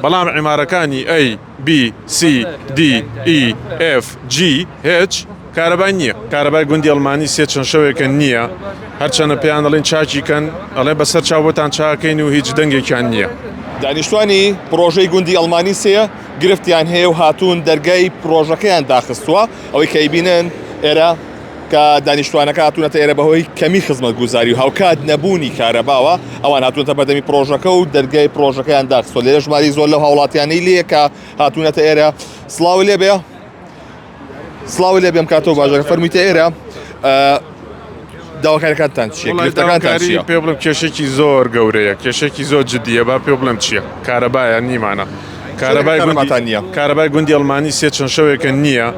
بەڵام عیمارەکانی ئەی، بی، سی، دی، ئی، ئێف، جی، هێچ کارەبای نییە. کارەبای گوندی ئەڵمانی سێ چەند شەوێکە نییە، هەرچەنە پێیان دەڵێین چاکی کەن، ئەڵێن بە سەر چاو بۆتان چاکەین و هیچ دەنگێکیان نییە. دانیشتوانی پڕۆژەی گوندی ئەڵمانی سێ گرفتیان هەیە و هاتوون دەرگای پڕۆژەکەیان داخستووە، ئەوەی کە ئەیبینن ئێرە، کە دانیشتوانەکە هاتوونەتە ئێرە بەهۆی کەمی خزمەتگوزاری و هاوکات نەبوونی کارەباوە ئەوان هاتوونەتە بەردەمی پرۆژەکە و دەرگای پرۆژەکەیان داخستۆ لێرە ژماری زۆر لەو هاوڵاتیانەی لێ کە هاتوونەتە ئێرە سلااو لێ بێ سلااو لێ بێم کاتەوە باژەکە فەرمیتە ئێرە داواکارەکانتان چیەکانتان پێ بڵم کێشێکی زۆر گەورەیە کێشێکی زۆر جددیە با پێ بڵم چییە کارەبایە نیمانە کارەبای گوندتان نیە کارەبای گوندی ئەڵمانی سێ چەند شەوێکە نییە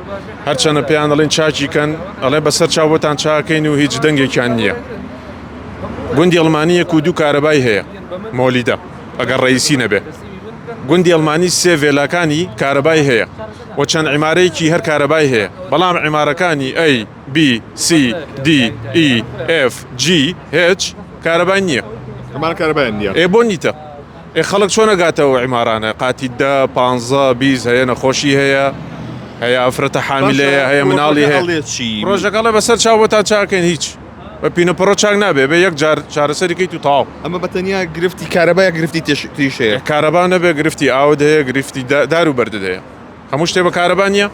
هەرچەنە پێیان دەڵێن چاکی کەن ئەڵێ بەسەر چاو بۆتان چاکەین و هیچ دەنگێکیان نییە گوندی ئەڵمانیەک و دوو کارەبای هەیە مۆلیدە ئەگەر ڕئیسی نەبێ گوندی ئەڵمانی سێ ڤێلاکانی کارەبای هەیە و چەند عیمارەیەکی هەر کارەبای هەیە بەڵام عیمارەکانی ئەی بی سی دی ئی ئف جی هچ کارەبای نییە ئەمان کارەبای نییە ئێ بۆ نیتە ئێ خەڵک چۆن ئەگاتە ئەو عیمارانە قاتی دە پانزە بیست هەیە نەخۆشی هەیە هەیە ئەفرەتە حامیلەیە هەیە مناڵی هەیە ڕۆژەکەڵە بەسەر چاوەتا چاکەین هیچ بە پینە پڕۆ چاک نابێ بە یەک جار چارەسەری کەیت و تاو ئەمە بەتەنیا گرفتی کارەبای گرفتی تێشتریشەیە کارەبا نەبێ گرفتی ئاود هەیە گرفتی دار و بەرد هەیە هەموو شتێ بە کارەبا نییە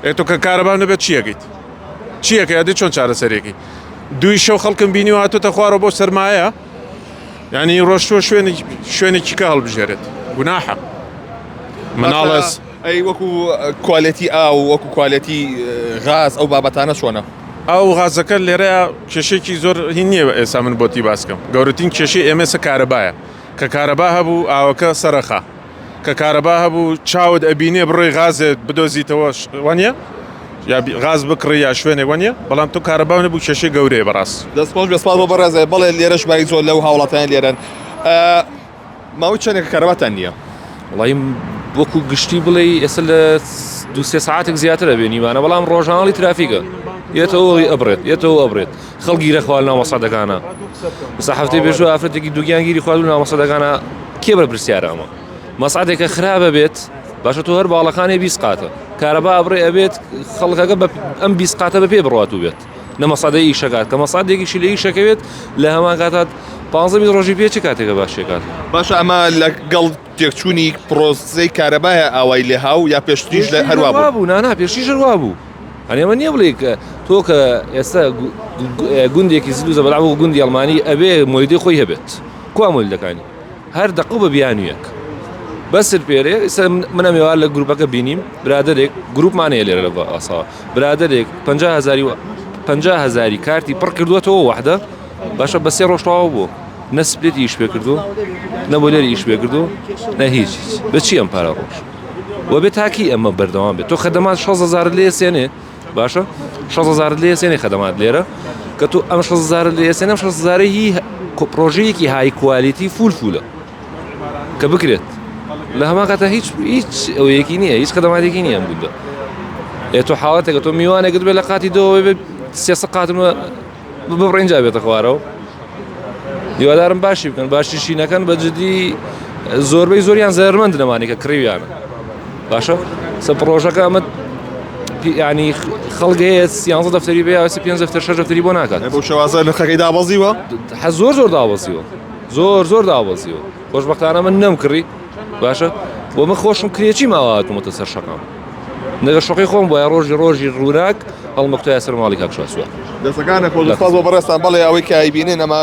ئێتۆ کە کارەبا نەبێت چیەکەیت چیەکە یادی چۆن چارەسەرێکی دوی شەو خەڵکم بینی و هاتوتە خوارە بۆ سەرمایە یانی ڕۆشتوە شوێنێک شوێنێکی کە هەڵبژێرێت گوناحە مناڵەس ئەی وەکو کوالەتی ئاو وەکو کوالەتی غاز ئەو بابەتانە چۆنە ئەو غازەکە لێرە کێشێکی زۆر هین نییە ئێستا من بۆتی باسکەم گەورەترین کێشی ئێمەسە کارەبایە کە کارەبا هەبوو ئاوەکە سەرخە کە کارەبا هەبوو چاوت ئەبینێ بڕۆی غازێ بدۆزیتەوە وانە یا غاز بکڕی یا شوێنێک وانە بەڵام تو کارەبا نەبوو کێشەی گەورەیە بەڕاست دەستخۆش بەسپاس بۆ بەڕێزێ بەڵێ لێرەش بای زۆر لەو هاوڵاتیان لێرەن ماوەی چەندێک کارەباتان نییە وڵی وەکو گشتی بڵێ ئێستا لە دوسێ ساعتێک زیاتر ئەبێ نیمانە بەڵام ڕۆژانڵی ترافیکە یەتەوەی ئەبرێت یەتەوە ئەبرێت خەڵک گیرە خوار ناوە سەدەکانە سە هەفتەی بێژوە ئافرەتێکی دوگیان گیری خوارد و ناوە سەدەکانە کێ بە پرسیارە ئەمە مەسعاتێکە خراپە بێت باشە تۆ هەر باڵەکانی بیسقاتە کارەبا ئەبڕێ ئەبێت خەڵکەکە بە ئەم بیسقاتە بە پێ بڕات و بێت نەمە سادە ئیشەکات کە مەسادێکیشی لە ئیشەکەوێت لە هەمان کاتات پازمی ڕۆژی پێچ کاتێکە باشێکات باشە ئەمە لە گەڵ تێکچوونی پرۆزەی کارەبایە ئاوای لێهاو یا پێشتریش لە هەروە بوو نانا پێشتیش هەروە بوو یانی ئەمە نیە بڵێی کە تۆ کە ئێستا گوندێکی زل و زەبەلاح و گوندی ئەڵمانی ئەبێ مۆلیدەی خۆی هەبێت کوا مۆلیدەکانی هەر دەقە و بە بیانوویەک بەسر پێرێ ئێستا من ئەم ێوار لە گروپەکە بینیم برادێک گروپمان هەیە لێرە لە ئاساوە برادێک 50 هزاری و 50 هزاری کارتی پڕ کردووەتەوە وحدە باشە بە سێ ڕۆژ تەواو بوو نە سپلێتی ئیش پێ کردو نە بۆ لێری ئیش پێ کردو نە هیچ بە چی ئەم پارە ڕۆژ و بێ تاکی ئەمە بەردەوام بێت تۆ خەدەمان 16زار لێ سێنێ باشە 16زار لێ سێنێ خەدەمات لێرە کە تۆ ئەم 16زار لێ سێنم 16زارە هی پرۆژەیەکی های کوالیتی فول فولە کە بکرێت لە هەما کاتە هیچ هیچ ئەوەیەکی نییە هیچ خەدەماتێکی نییە بوودا ئێ تۆ حاڵەتێکە تۆ میوانێکت بێ لە قاتی دەوە بێ سێسە قاتمە ببڕین جا بێتە خوارەوە هیوادارم باشی بکەن باشیشی نەکەن بە جدی زۆربەی زۆریان زەرمەند نەمانی کە کڕیویانە باشە سە پرۆژەکە ئەمە ینی خەڵگەیە سیانزە دەفتەری بێ ئەوسە پێ دەفتەر شەش دەفتەری بۆ ناکات بۆ شوازە نرخەکەی دابەزیوە حە زۆر زۆر دابەزیوە زۆر زۆر دابەزیوە خۆشببختانە من نەم کڕی باشە بۆ من خۆشم کرێکی ماواتمەتە سەر شەقام نەگە شوقی خۆم بۆە ڕۆژی ڕۆژی ڕووناک هەڵمەکتۆیا سەر ماڵی کاک شاسوار دەسەکانە خۆزستاز بۆ بەڕێستان بەڵێ ئەوەی کە ئایبینێن ئەما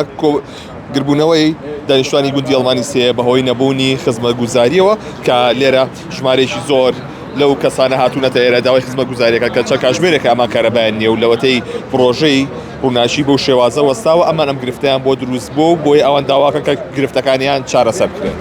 گربوونەوەی دانیشتوانی گوندی ئەڵمانی سێ بەهۆی نەبوونی خزمە گوزاریەوە کە لێرە ژمارەیەکی زۆر لەو کەسانە هاتوونەتە ئێرە داوای خزمە گوزاریەکە کە چە کاژمێرێک ئەما کارەبایان نیە و لەوەتەی پرۆژەی قووناشی بەو شێوازە وەستاوە ئەمان ئەم گرفتیان بۆ دروست بوو و بۆیە ئەوان داواکە کە گرفتەکانیان چارەسەر بکرێت.